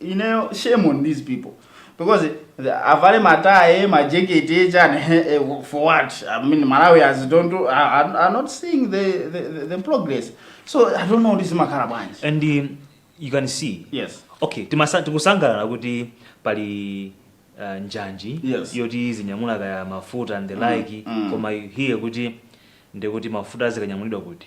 ineyo shame on these people because the- avale mataye majekete chani eh, for what i mean malawians don't do- are, are- are not seeing the, the, the, the progress so i don't know zimakhala bwanji and um, you can see yes okay timasa- tikusangalala kuti pali uh, njanji Yes. yoti zinyamula kaya mafuta and the like mm. koma you hear kuti ndiye kuti mafuta azikanyamulidwa kuti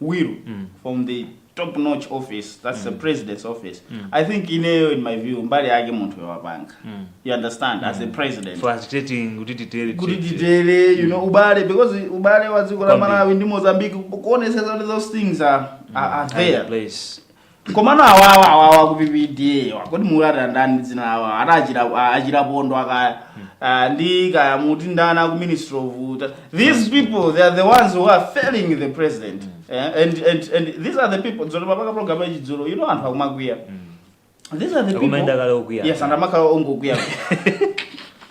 will from the top notch office that's the president's office i think ineyo in my view mbali yake munthuyo wapanga you understand as a president facilitating kuti titere kuti titere. titere you know ubale because ubale wa dziko la Kwambiri. malawi ndi mozambique kuonesesa kuti those things are, are, are Are in there place komano awawa awawa aku ppda-wa kodi mukuwati ndani ndi dzina lawo ati achira- a- achirapondo akaya Ah, ndi kaya muti ndani aku ministry of uta these people they are the ones who are failing the president Eh, and, and, and these are the people olo mpaka pa program yachidzulo you know anthu akumakwiya these are the Akumayenda kale okwiya. people yes anthu amakhala ongokwiya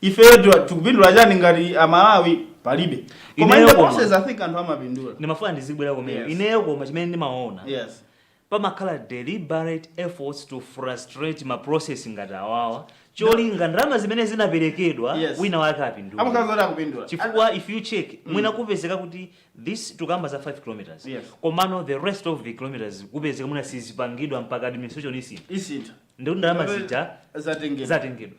ifeyo tu- tikupindula chani ngati amalawi palibe koma Ineyo in the koma. process i think anthu amapindula ndimafuna ndizibwera komweko Yes. ineyo koma chimene ndimaona yes pamakhala deliberate efforts to frustrate ma process ngati awawa cholinga ndalama zimene zinaperekedwa Yes. wina wake apindule amakhala zoti akupindula chifukwa if you check mwina kupezeka kuti this tukamba za 5 kilometers Yes. komano the rest of the kilometers kupezeka mwina sizipangidwa mpaka administration isintha isintha ndiye kuti ndalama zija zatengedwa zatengedwa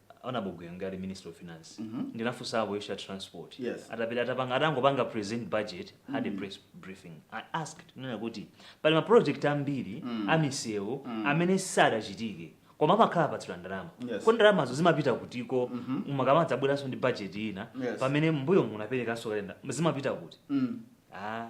Honourable Gwengwe ali minister of finance mm -hmm. ndinafunsapo issue ya transport yes. atapita atapanga atangopanga present budget mm -hmm. had a mm. press briefing i asked kunena kuti pali ma project ambiri mm -hmm. amisewu mm -hmm. amene sadachitike koma amakhala apatsidwa ndalama yes. ko ndalamazo zimapita kutiko mm -hmm. mukamadzabweranso ndi budget ina yes. pamene m'mbuyomu munaperekanso kale nde zimapita kuti mm. ah,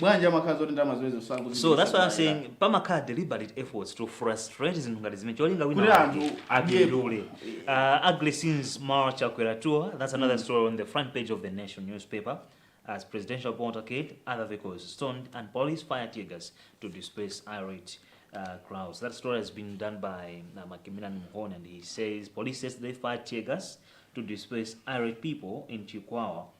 bwanji amakhala zoti ndalama zimenezo sakuzi so that's why i'm saying pamakhala deliberate efforts to frustrate zinthu ngati zimene cholinga Kuti wina anthu wake apindule uh, agresins mara chakwera tour that's another story on the front page of the nation newspaper as presidential portacade other vehicles stoned and police fire tear gas to disperse irate uh, crowds that story has been done by uh, Macmillan Mhone and he says police says they fired tear gas to disperse irate people in Chikwawa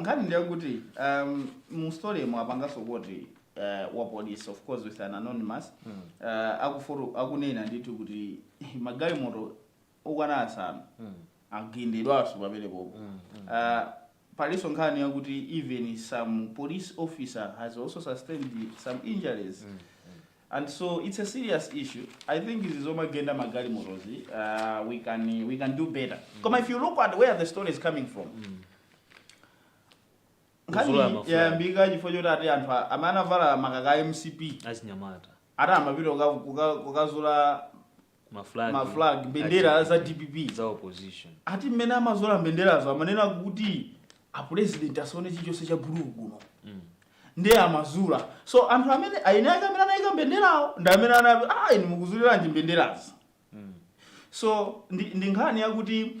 nkhani ndiyakuti um, mu story mu apanganso quote uh, wa police of course with an anonymous mm. uh, akufuru akunena ndithu kuti magalimoto okwana asanu mm. agendedwanso pamenepopo mm. mm. uh, palinso nkhani yakuti even some police officer has also sustained some injuries mm. And so it's a serious issue i think izi zomagenda magalimotozi uh, we, can, we can do better mm. koma if you look at where the story is coming from mm. nkhani yayambika chifukwa choti ati anthu amene anavala makaka a mcp achinyamata ati amapita kukazula ma flag ma flag mbendera za dpp za opposition ati mmene amazula mbenderazo amanena kuti apulezidenti asaone chilichonse cha blue kuno mm. ndiye amazula so anthu amene eni ake amene anayika mbenderawo ndi amene anati ah inu mukuzuliranji mbenderazi mm. so ndi, ndi nkhani yakuti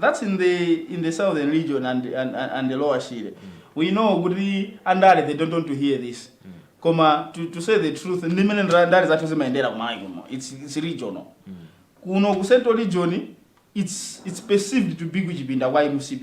that's in the in the southern region and and, and, and the lower shire we know kuti andale they don't want to hear this koma to, to say the truth ndi mmene ndra- ndale zathu zimayendera kumalawi kuno it's, it's regional kuno ku central region it's, it's perceived to be kuchipinda kwa mcp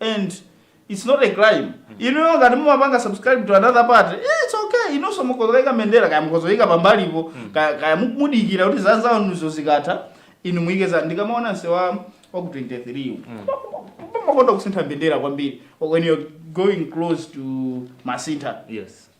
and its not a crime inuyo ngati mumapanga subscribe to another party eh, its okay inunso mukhozoyika mbendera kaya mukhozoyika pambalipo kaya, kaya mu- mudikira kuti zanzanuzo zikatha inu muyike za ndikamaona nsewu waku 23 makonda kusintha mbendera kwambiri when you're going close to masintha yes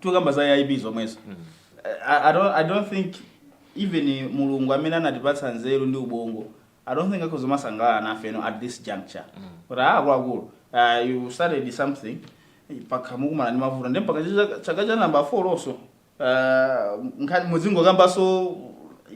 tikukamba za aip zomwezo I, I, don't, i don't think even mulungu amene anatipatsa nzeru ndi ubongo i don't think akhoza kumasangalala nafe ino at this juncture but ah, akuluakulu uh, you started something mpaka mukumana ndi mavuto nde mpaka chaka- chaka cha namba 4 also uh, nkhani muzingokambanso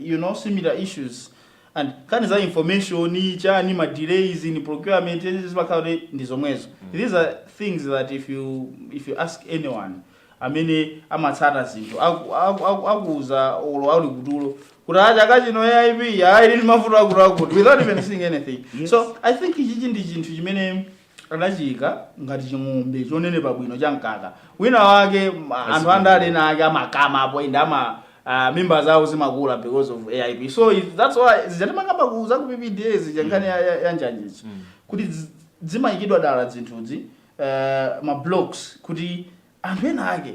you know similar issues and nkhani za information chani ma delays in procurement zimakhala kuti ndi zomwezo these are things that if you if you ask anyone amene amatsata zinthu aku- aku- aku- akuuza olo ali kutulo kuti a chaka chino aip ili ndi mavuto akutiakuti without even seeing anything so i think ichichi ndi chinthu chimene adachiika ngati ching'ombe chonenepa bwino cha mkaka wina wake m- anthu andale ena ake amakama apo ende ama ah, mimba zawo zimakula because of aip so if- that's why zija timakamba ku za ku ppda zija nkhani ya- ya- ya njanjizi kuti zi- zimayikidwa dala zinthuzi eh, ma blocks kuti anthu ena ake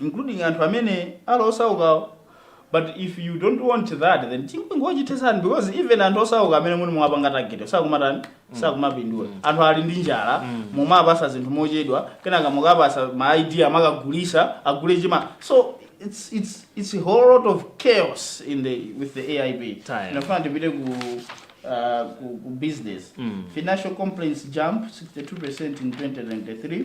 including anthu amene ali osaukawo but if you don't want that then ingochithetsani because even anthu osauka amene muli mwapanga target sakumatani sakumapindula anthu ali ndi njala mumawapatsa zinthu mochedwa kenaka mukawapatsa ma ID amakagulitsa agule chima so it's it's it's a whole lot of chaos in the with the AIP Taya. nafuna tipite ku uh, ku, ku business financial complaints jump 62% in 2023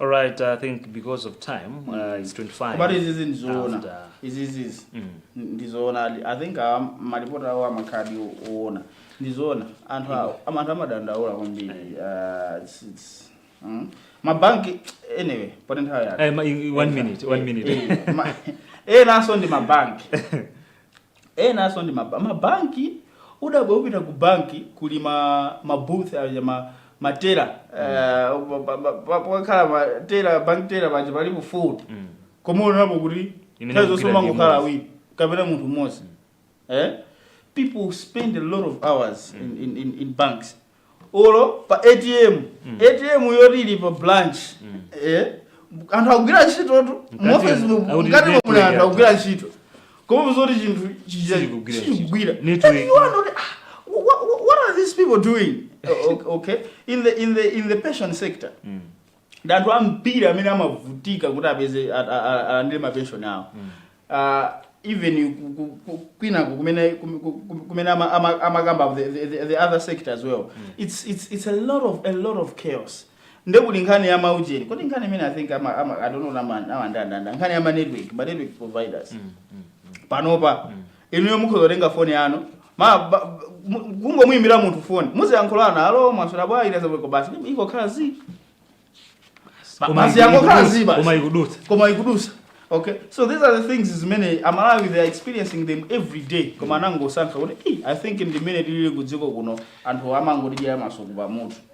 All right, I think because of time, uh, it's 25. But izizi ndizoona. after. izizi ndizoona ali- i think ah, malipoti awo amakhaladi oona ndizoona anthu awo am- anthu amadandaula kwambiri Ah, it's- it's- mm. mabanki anyway poti nthawi yake Eh, ma- i- one minute, one minute. enanso ndi mabanki enanso ndi ma ma bank udabwe upita ku bank kuli ma ma booth aja ma matela pakhala ma tela bank tela paja alipo 4 Mm. koma uonapo kuti Imene nthawi zonse kugwira ndi kumangokhala imodzi. awiri kapena munthu mmodzi eh people spend a lot of hours in, in, in, in banks olo pa atm atm yoti ili pa branch eh, anthu akugwira ntchitotu Mkati- mu office mu- akuti mkati network mwa anthu yathu. akugwira ntchito koma zoti chinthu chija- Sichikugwira ntchito. sichikugwira Network. And you wonder, ah, wha- wha- what are these people doing O- o- okay in the in the in the pension sector ndi anthu ambiri amene amavutika kuti apeze a- a- a- alandire mapenshoni awo Ah, even ku- ku- ku- kwinako kumene kum- ku- ku- kumene ama- ama- amakamba the, the, the- the other sector as well it's, it's, it's a lot of a lot of chaos nde kuli nkhani ya maujeni koti nkhani imene i think ama, ama, i don't know nama- amandandanda nkhani ya ma network ma network providers panopa inuyo mukhoza kutenga foni yanu ma ba- ba- mu- kungomuyimbira munthu foni muziyankhulana alo mwaswera bwanji nazabweko basi ingokhala zi Ba- Koma basi iku- yangokhala ikudutsa, zi basi koma ikudutsa. koma ikudutsa okay so these are the things zimene amalawi they are experiencing them every day koma anangosankha kuti "Eh, i think ndimene tilili kudziko kuno anthu amangotidyera masuku pamutu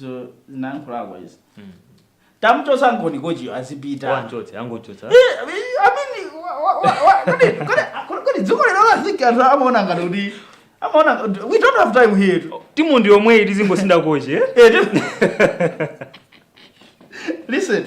so zinayankhulako izi tamuchotsani kochiyo azipita wanchotse angochotsa Eh, I mean, wa- wa- wa- wa- kodi- kodi- kodi- kodi dziko lino laziki anthu amaona ngati kuti amaona ngati- we don't have time here to- timu ndi yomweyi tizingosintha kochi eh? Eh, ti- listen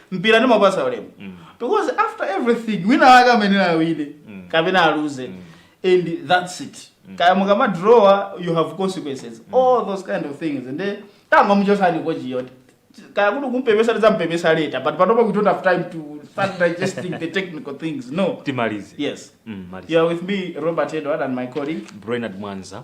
mpira ndimapasa ulemu because after everything wina wake amene awine kapena aluze and that's it kaya mukamadrawa you have consequences all those kind of things and then tangomuchotsani kochiyo kaya kuti kumpepesa tidzampepesa later but panopa we don't have time to start digesting the technical things no timalize yes Mm, malize. you are with me robert edward and my colleague Brainerd mwanza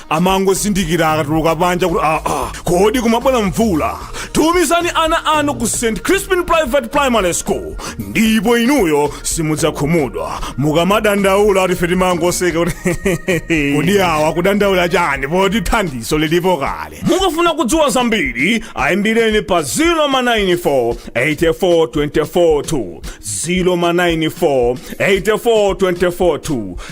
amangozindikira akatuluka panja kuti aa kodi kumabwera mvula tumizani ana anu ku st crispin private primary school ndipo inuyo simudzakhumudwa mukamadandaula kuti ife timangoseka kuti kodi awa akudandaula chani poti thandizo lilipo kale mukafuna kudziwa zambiri ayimbireni pa 094 84242 094 84242